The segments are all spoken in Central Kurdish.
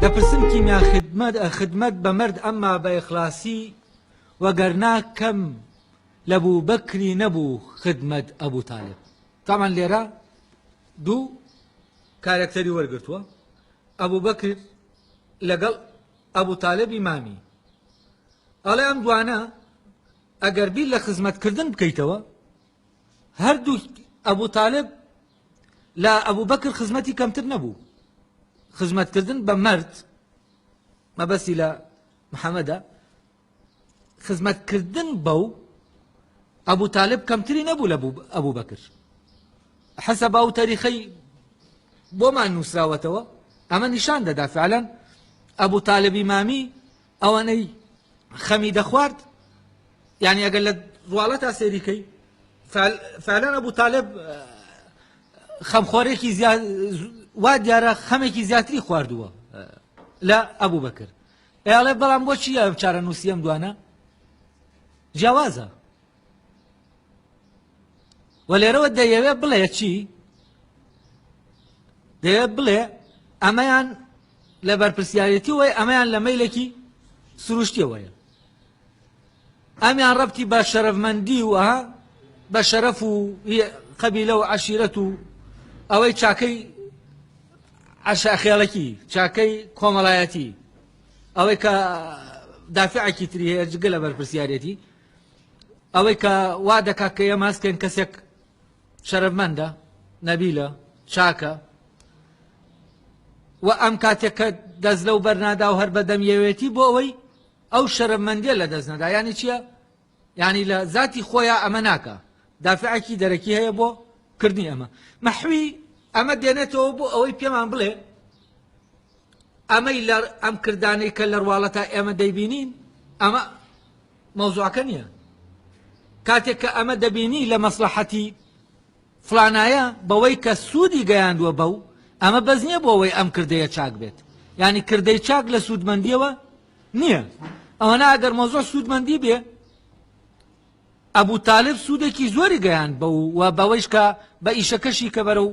دەپرسم کیمیا خدمەت خدمەت بە مەرد ئەمما بە ئیخلاسی وەگەرنا کەم لە بوو بەکری نەبوو خدمەت ئەبوو تالب تامان لێرە دوو کارەکتەری وەرگتووە ئەبوو بەکر لەگەڵ ئەبوو تالبی مامی ئەڵێ ئەم دوانە ئەگەر بیر لە خزمەت کردن بکەیتەوە هەردوو ئەبو تالب لە ئەبو بەکر خزمەتی کەمتر نەبوو خزمەت کردن بە مرد مەبەستی لە محەممەدا خزمەت کردن بەو ئەبوو تالب کەمتری نەبوو لە ئەبوو بەکر حەسە با و تەریخەی بۆمان نووسراوەتەوە ئەمە نیشان دەدا فعلەن ئەبوو تالبی مامی ئەوانەی خەمی دەخوارد یعنی ئەگەر لە ڕواڵە تا سێریکەی فعلەن ئەبوو تالب خەمخۆرێکی وا دیارە خەمێکی زیاتری خواردووە لە ئەبوو بەکر ئێڵێ بەڵام بۆچی ئەم چارە نووسیم دوانە جیاوازە و لێرەوە دەیەوێ بڵێ چی دەیەوێت بڵێ ئەمەیان لە بەرپرسیارەتی وی ئەمەیان لە مەیلێکی سروشتیەوەیە ئەمیان ڕەتی بە شەرەفمەندی و ئەها بە شەرەف و قەبیلە و عشیرەت و ئەوەی چاکەی عشاخێڵەکی چاکەی کۆمەڵایەتی ئەوەی کە دافعکی تری هەیە جگە لە بەرپرسیارەتی ئەوەی کە وا دەکات کە ئێمە هەستێن کەسێک شەرەفمەندە نەبیلە چاکە و ئەم کاتێک کە دەست لەو بەرنادا و هەر بەدەم یەوێتی بۆ ئەوەی ئەو شەرەفمەندیە لە دەست نەدا ینی چییە؟ ینی لە ذاتی خۆیان ئەمە ناکە دافعکی دەرەکی هەیە بۆ کردنی ئەمە مەحوی ئەمە دێنێتەوە بۆ ئەوەی پێمان بڵێ ئەمەی لە ئەم کردانەی کە لەرواڵەتا ئێمە دەیبینین ئەمە مەوزوعەکە نییە کاتێک کە ئەمە دەبینی لە مەسلحەتی فلانایە بەوەی کە سوودی گەیاندووە بەو ئەمە بەس نییە بۆ ئەوەی ئەم کردەیە چاک بێت ینی کردەی چاک لە سوودمەندیەوە نییە ئەوە ناگەر مەزۆر سوودمەندی بێ ئەبوو تالب سوودێکی زۆری گەیان بە و بەوەیش کە بە ئیشەکەشی کە بەرە و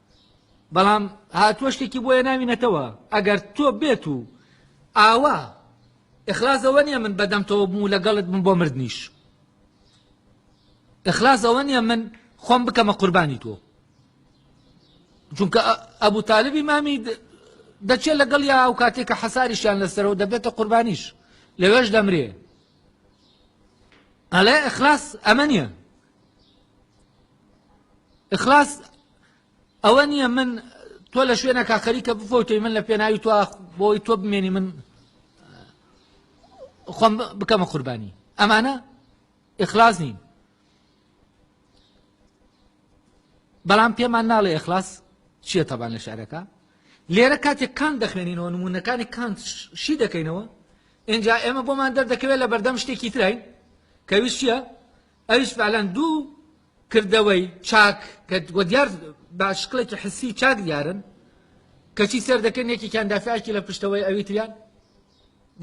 بەڵام هاتووە شتێکی بۆیە ناوینەتەوە ئەگەر تۆ بێت و ئاوا ئەخلاز ئەوە نیە من بەدەمتەوە بوو لەگەڵت من بۆ مردنیش ئەخلاز ئەوە نیە من خۆم بکەمە قوربانی تۆ چونکە ئەبوو تالبی مامی دەچێت لەگەڵ یا ئەو کاتێکە حەساریشیان لەسەرەوە دەبێتە قوربانیش لەوێش دەمرێ ئەڵێ ئەخلاس ئەمە نیە اخلاص ئەوە نییە من تۆ لە شوێنەکە خەریکە بفۆتەی من لە پێناوی تۆ بۆی تۆ بمێنی من خۆم بکەمە قوربانی ئەمانە اخلاص نین بەڵام پێمان ناڵێ اخلاص چییە تەبان لە شارەکە لێرە کاتێک کان دەخوێنینەوە نمونونەکانی کان شی دەکەینەوە اینجا ئێمە بۆمان دەردەکەوێت لە بەردەم شتێکی ترین کەویستە ئەویش فعلەن دوو کردەوەی چاک کە وە دیار بە شکڵێکی حسی و چاک دیارن کەچی سێر دەکەن یەکێکیان دافعکی لە پشتەوەی ئەوی تریان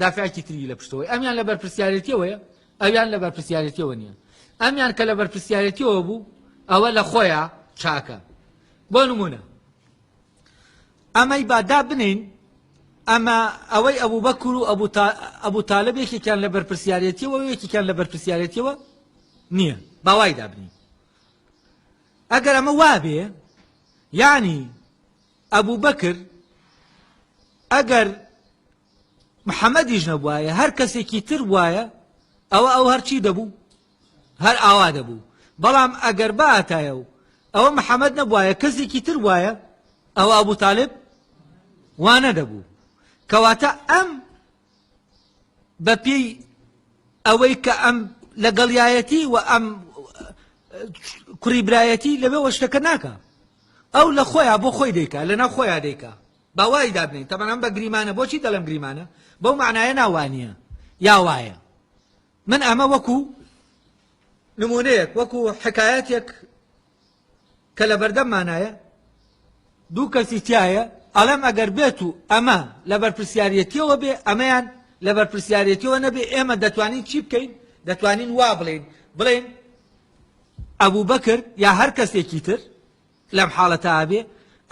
دافعکی تری لە پشتەوەی ئەمیان لە بەرپرسیارەتیەوەیە ئەویان لە بەرپرسیارەتیەوە نییە ئەمیان کە لە بەرپرسیارەتیەوە بوو ئەوە لە خۆیان چاکە بۆ نمونە ئەمەی با دابنێین، ئەمە ئەوەی ئەبوبەکر و ئەبو تالب یەکێکیان لە بەرپرسیارێتیەوە و یەکێکیان لە بەرپرسیارێتیەوە نییە باوای دابنین ئەگەر ئەمە وابێ یعنی ئەبوو بەکر ئەگەر محەممەدیش نەبواە هەر کەسێکی تر وایە ئەوە ئەو هەرچی دەبوو هەر ئاوا دەبوو بەڵام ئەگەر باتایە و ئەوە محەمەد نەبوایە کەسێکی تر بوایە ئەوە ئەبوو تاالب وانە دەبوو کەواتە ئەم بە پێی ئەوەی کە ئەم لەگەڵایەتی و ئەم کوڕی برایەتی لەوێ وەشتەکە ناکە ئەو لە خۆیان بۆ خۆی دیکە لەنا خۆیان دیکە باوای دابنین تەمەەن بە گریمانە بۆچی دەڵم گریمانە بەو معناە ناوانە یا وایە من ئەمە وەکو نمونەیەک وەکو حکایەتێک کە لە بەردەممانایە دوو کەسی تایە ئەڵێم ئەگەر بێت و ئەمە لە بەرپسیارەتیەوە بێ ئەمەیان لە بەرپسیارەتیەوە نەبێ ئێمە دەتوانین چی بکەین دەتوانین وا بڵین بڵێن ئەبوو بەکرد یا هەر کەسێکی تر لەم حاڵەتە ئەبێ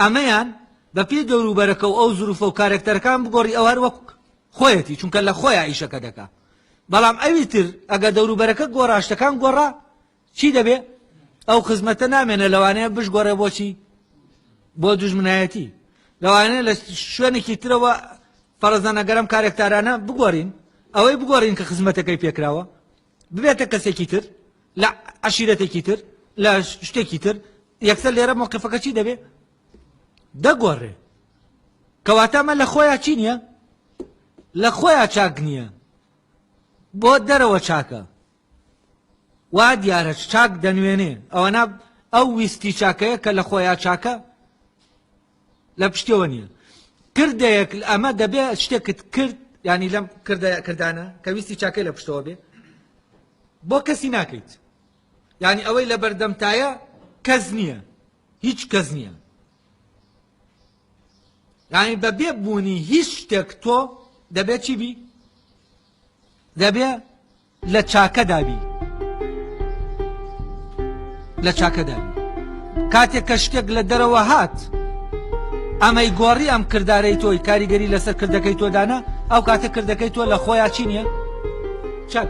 ئەمەیان بە پێی دەوروبەرەکە و ئەو زروفە و کارەکتەرەکان بگۆڕی ئەو هەر وەک خۆیەتی چونکە لە خۆیا ئیشەکە دەکا بەڵام ئەوی تر ئەگە دەوروبەرەکە گۆڕا شتەکان گۆڕا چی دەبێ ئەو خزمەتە نامێنە لەوانەیە بشگۆڕێ بۆچی بۆ دوژمنایەتی لەوانەیە لە شوێنێکی ترەوە فەرزانەگەرم کارێکتارانە بگۆڕین ئەوەی بگۆڕین کە خزمەتەکەی پێکراوە ببێتە کەسێکی تر لە عشیرەتێکی تر لە شتێکی تر یەکسەر لێرە مۆقفەکە چی دەبێ دەگۆڕێ کەواتەمە لە خۆیان چی نییە لە خۆیان چاک نییە بۆ دەرەوە چاکە وا دیارە چاک دەنوێنێ ئەوەنا ئەو ویستی چاکەیە کە لە خۆیان چاکە لە پشتەوە نییە کردەیەک ئەمە دەبێ شتێکت کرد ینی لەم کردە کردانە کە ویستی چاکەی لە پشتەوە بێ بۆ کەسی ناکەیت ینی ئەوەی لە بەردەمتایە کەس نییە هیچ کەس نییە ینی بە بێ بوونی هیچ شتێک تۆ دەبێت چی بی دەبێ لە چاکەدا بی لە چاکەدا بی کاتێک کە شتێک لە دەرەوە هات ئەمەی گۆڕی ئەم کردارەی تۆی کاریگەری لەسەر کردەکەی تۆدانە ئەو کاتە کردەکەی تۆ لە خۆیان چی نییە چاک